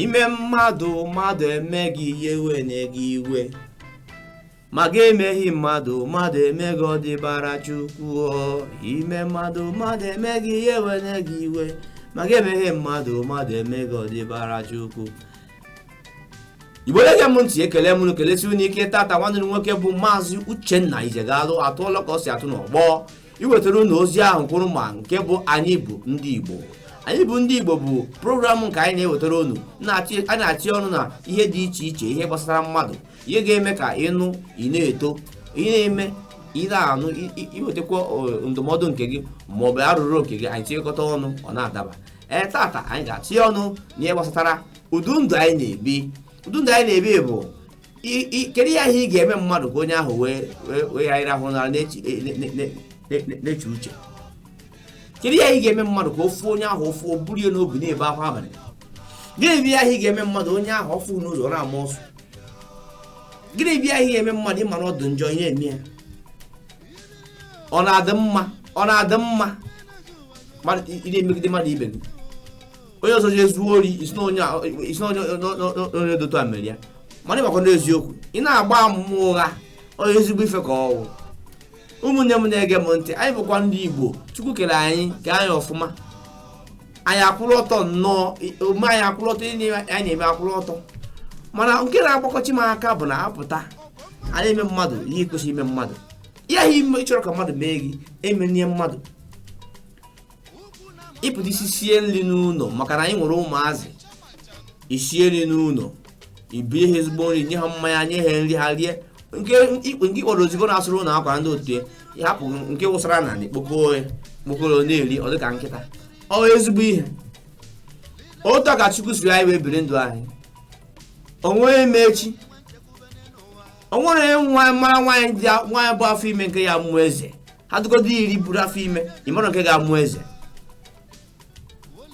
ime mmadụ mmadụ eme gị ya ewene gị iwe ma gị emeghị mmadụ mmadụ eme gị ọ dịbara chukwu ime mmadụ mmadụ eme gị ya ewene gị iwe ma gị emeghị mmadụ mmadụ eme gị ọ dịbara chukwu igbo na-ege m ntị ekele m kelesi unu ike tata nwanne m nwoke bụ maazị uchenna ijegalụ atụọla ka ọ si atụ n'ọgbọ iwetara unu ozi ahụ kwụrụ ma nke bụ anyị bụ ndị Igbo anyị bụ ndị Igbo bụ program nke anyị na-ewetara unu a na-achị ọnụ na ihe dị iche iche ihe gbasara mmadụ ihe ga-eme ka ị nụ ị na-eto ihe na-eme ị na-anụ iwetakwa ndụmọdụ nke gị ma ọ bụ arụrụ nke gị anyị tinyekọta ọnụ ọ na-adaba ee tata anyị ga-achị ọnụ n'ihe gbasatara ụdị ndụ anyị na-ebi ụdị ndụ anyị na-ebi bụ I- i- kedu ya ihe ị ga-eme mmadụ ka onye ahụ wee wee wee ghara ịrahụ ụra na-eche uche kedu ya ihe ị ga-eme mmadụ ka ofu onye ahụ ofu o buru ya n'obi na-ebe akwa abalị gịnị bụ ya ihe ị ga-eme mmadụ onye ahụ ọ fụ n'ụzọ ọ na-ama ọsụ gịnị bụ ya ihe ị ga-eme mmadụ ị mara ọ dụ njọ ihe eme ya ọ na-adị mma ọ na-adị mma mmadụ ị na-emegide mmadụ ibe gị onye ọzọ jee zuo ori ị sị na onye a- ị sị na onye onye- onye- onye dị otu a mere ya mana ị makwa n'eziokwu ị na-agba ama ụgha onye ezigbo ife ka ọ wụ ụmụnne m na-ege m ntị anyị bụkwa ndị igbo chukwu kere anyị kee anyị ọfụma anyị akwụrụ ọtọ nnọọ i- omume anyị akwụrụ ọtọ ihe niile anyị na-eme akwụrụ ọtọ mana nke na-agbakọchi m aka bụ na a pụta a na-eme mmadụ ihe e kwesịrị ime mmadụ ihe ahụ ime ị chọrọ ka mmadụ mee gị emenye mmadụ ị pụta i sisie nri n'ụlọ maka na anyị nwere ụmụazị i sie nri n'ụlọ i bie ha ezigbo nri nye ha mmanya nye ha nri ha rie nke ikpe nke ị kpọrọ odibo na-asụrụ unu akwa ndị otu ya hapụ nke wụsara n'ana kpokoo ya kpokoro na-eri ọ dịka nkịta ọ ezigbo ihe otu a ka chukwu sịrị anyị wee biri ndụ anyị o nwere ma echi o nwere nwa mara nwaanyị dị nwaanyị bu afọ ime nke ya-amụ eze ha dụgodu iri buru afọ ime ị mara nke ga-amụ eze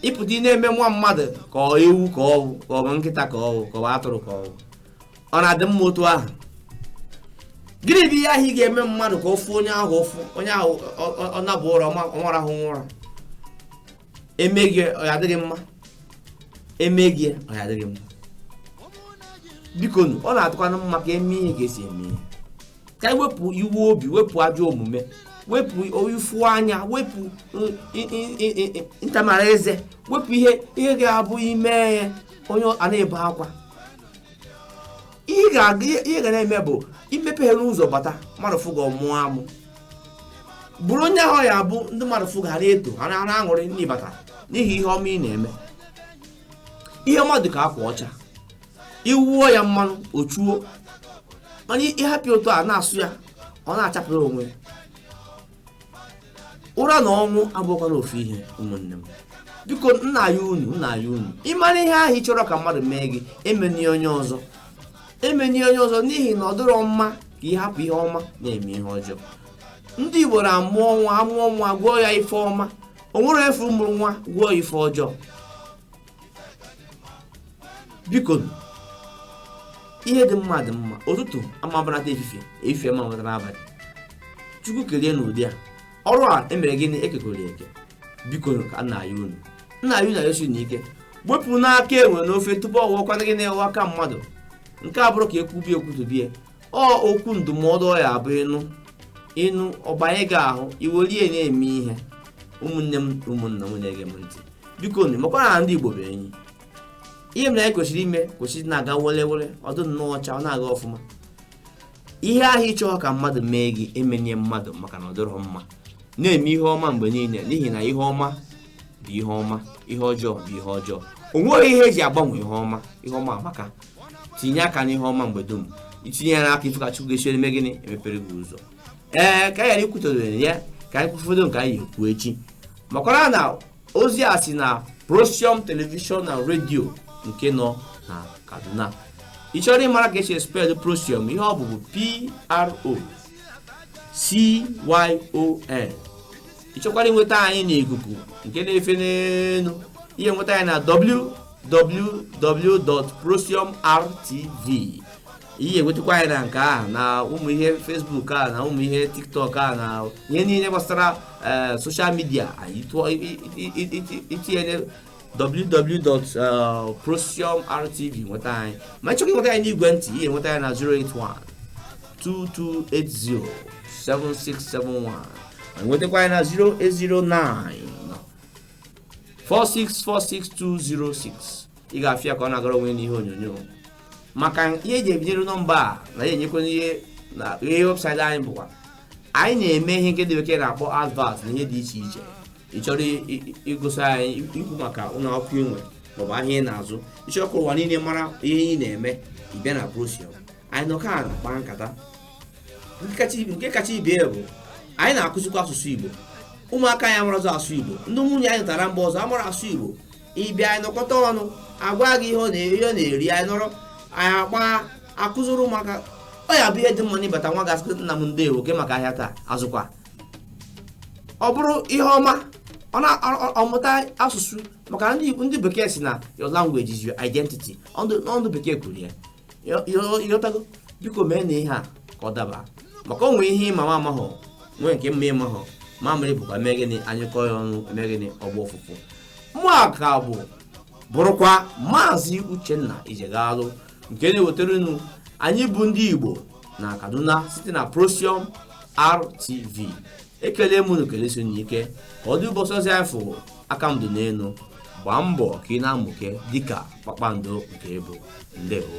ị pụta ị na-eme nwa mmadụ ka ọ ewu ka ọ wụ ka ọ bụ nkịta ka ọ wụ ka ọ bụ atụrụ ka ọ wụ ọ na-adị mma otu ahụ gịnị bụ ihe ahụ ị ga-eme mmadụ ka ofu onye ahụ ofu onye ahụ ọ- ọ- ọ naba ụra ọ ma-arahụnwu ụra e mee gị ọ ya-adị gị mma e mee gị ọ ya-adị gị mma bikonu ọ na-adịkwanụ mma ka e mee ihe ka e si eme ihe ka anyị wepụ iwe obi wepụ ajọ omume wepụ ifu anya wepụ uh, i- i- i- i- i- ntamara eze wepụ ihe ihe ga-abụ i mee ya onye a na-ebe akwa ihe ị ga-aga ihe ihe ga na-eme bụ i mepeghe ụzọ bata mmadụ fụ gị ọ mụọ amụ bụrụ onye ahụ ya bụ ndị mmadụ fụ gị ha na-eto ha na- ha na-aṅụrị na ị bata n'ihi ihe ọma ị na-eme ihe ọma dị ka akwa ọcha i wuo ya mmanụ o chuo ma ị hapụ ya otu a na-asụ ya ọ na-achapụrụ onwe ya. ụra na ọnwụ abụkwara ofu ihe ụmụnne m biko m na-ayọ unu m na-ayọ unu ị mara ihe ahụ ị chọrọ ka mmadụ mee gị emene onye ọzọ emene onye ọzọ n'ihi na ọ dịrọ mma ka ị hapụ ihe ọma na-eme ihe ọjọọ ndị igbo na-amụọ nwa a mụọ nwa gụọ ya ife ọma o nwere ị fụ mụrụ nwa gụọ ya ife ọjọọ bikonụ ihe dị mma dị mma ụtụtụ amabanata efifie efifie amabanata abalị chukwu kelee n'ụdị a ọrụ a e mere gịnị ekekọrọ eke biko ka a na-ayọ unu m na-ayọ na-ayọsi unu ike wepụnụ aka enwe n'ofe tupu ọ wụọkwana gịnị wụọ aka mmadụ nke a bụrụ ka e kwubi e kwutubie ọ okwu ndụmọdụ ọ ya bụ ị nụ ị nụ ọ banye gị ahụ i were ya na-eme ihe ụmụnne m ụmụnna m na-ege m ntị bikonụ makwara na ndị igbo bụ enyi ihe mere anyị kwesịrị ime kwesịrị na-aga were were ọdụ nnọọ ọcha ọ na-aga ọfụma ihe ahụ ị chọ ka mmadụ mee gị emene ya mmadụ maka na ọ dịrọ mma na-eme ihe ọma mgbe niile n'ihi na ihe ọma bụ ihe ọma ihe ọjọọ bụ ihe ọjọọ o nweghị ihe e ji agbanwe ihe ọma ihe ọma amaka tinye aka n'ihe ọma mgbe dum i tinye ya aka ị fụ ka chukwu ga-esi eme gịnị emepere gị ụzọ ee ka anyị ghara ikwutodoro ya ka anyị kwufọdụ nke anyị ekwu echi makwara na ozi a si na Procyon television na redio nke nọ na kaduna ị chọrọ ịmara ka e si spell Procyon ihe ọ bụ bụ pro cyon ị chọkwara inweta anyị n'ikuku nke na-efe n'elu ị ya-enweta anyị na www.procyonrtv ị ya-enwetakwa anyị na nke ahụ na ụmụ ihe Facebook a na ụmụ ihe TikTok a na ihe niile gbasara eh, social media anyị tụọ- i- i- i- i- itinye www.procyonrtv nweta anyị ma ị chọkwa inweta anyị n'igwe ntị ị ya-enweta anyị na 081 2280 7671 ma nwetakwa anyị na 0809 4646206 ị ga-afụ ya ka ọ na-agara onwe n'ihe onyonyo maka ihe e ji ebinyere nọmba a na ya enyekwana ihe na ihe website anyị bụkwa anyị na-eme ihe nke ndị bekee na-akpọ advert na ihe dị iche iche ị chọrọ igosi anyị ikwu maka ụlọ akwụkwọ i nwe maọbụ ahịa ị na-azụ ị chọrọ ka ụwa niile mara ihe ị na-eme ị bịa na procyon anyị nọ ka a na-akpa nkata nke kacha ibe bụ anyị na-akụzikwa asụsụ igbo ụmụaka anyị amara asụ igbo ndị nwunye anyị lụtara mba ọzọ amara asụ igbo ị bịa anyị nọkọta ọnụ a gwa gị ihe ọ na-eri anyị nọrọ anyị agba akụziri ụmụaka ọ ya-abụ ihe dị mma na ị bata nwa ga-asị nna m ndewo kee maka ahịa taa azụkwa ọ bụrụ ihe ọma ọ na-amụta asụsụ maka ndị ndị bekee sị na your language is your identity ọ ndị ọ ndị bekee kwuru ya ị ghọtago biko meenụ ihe a ka ọ daba maka o nwe ihe ị ma m amahụ nwee nke m ma ị mahụ mamịrị bụkwa mee gịnị a nyụkọọ ya ọnụ e mee gịnị ọ gbaa ụfụfụ mụ a ka bụ bụrụkwa maazị uchenna ijegalụ nke na-ewetara unu anyị bụ ndị igbo na kaduna site na procyon rtv ekele m unu kelesie unu ike ka ọ dị ụbọchị ọzọ anyị fụrụ aka m dị n'elu gbaa mbọ ka ị na-amụke dịka kpakpando nke ị bụ ndewo